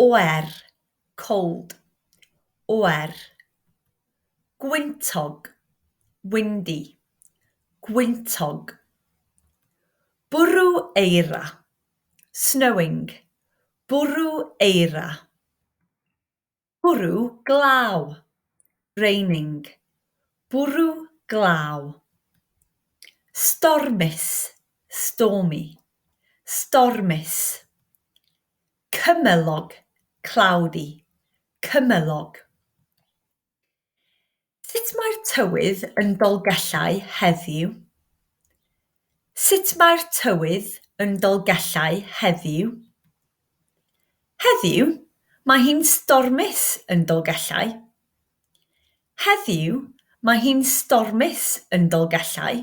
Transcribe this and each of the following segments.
Oer, cold. Oer. Gwyntog, windy. Gwyntog. Bwrw eira, snowing. Bwrw eira. Bwrw glaw, raining, bwrw glaw. Stormus, stormy, stormus. Cymylog, cloudy, cymylog. Sut mae'r tywydd yn Dolgellau heddiw? Sut mae'r tywydd yn Dolgellau heddiw? Heddiw, mae hi'n stormus yn Dolgellau. Heddiw, mae hi'n stormus yn Dolgellau.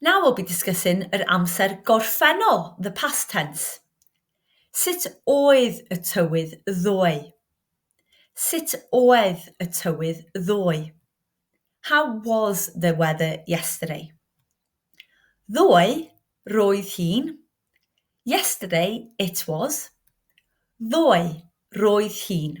Now we'll be discussing yr amser gorffennol, the past tense. Sut oedd y tywydd ddoe? Sut oedd y tywydd ddoe? How was the weather yesterday? Ddoe, roedd hi'n. Yesterday, it was. Ddoe, roedd hi'n.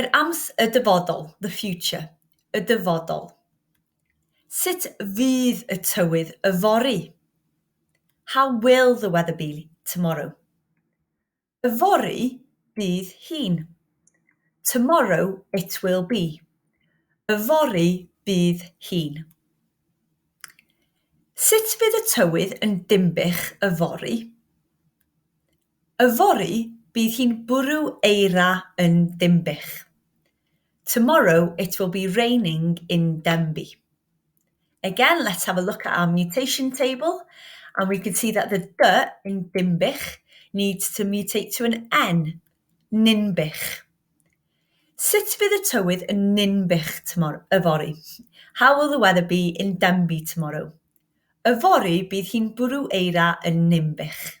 Yr ams, y dyfodol, the future, y dyfodol. Sut fydd y tywydd yfory? How will the weather be tomorrow? Yfory bydd hi'n. Tomorrow it will be. Yfory bydd hi'n. Sut fydd y tywydd yn Dinbych yfory? Yfory bydd hi'n bwrw eira yn Dinbych. Tomorrow it will be raining in Denbigh. Again, let's have a look at our mutation table and we can see that the d in Dinbych needs to mutate to an n, Ninbych. Sut fydd y tywydd yn Ninbych yfory? How will the weather be in Denbigh tomorrow? Yfory bydd hi'n bwrw eira yn Ninbych.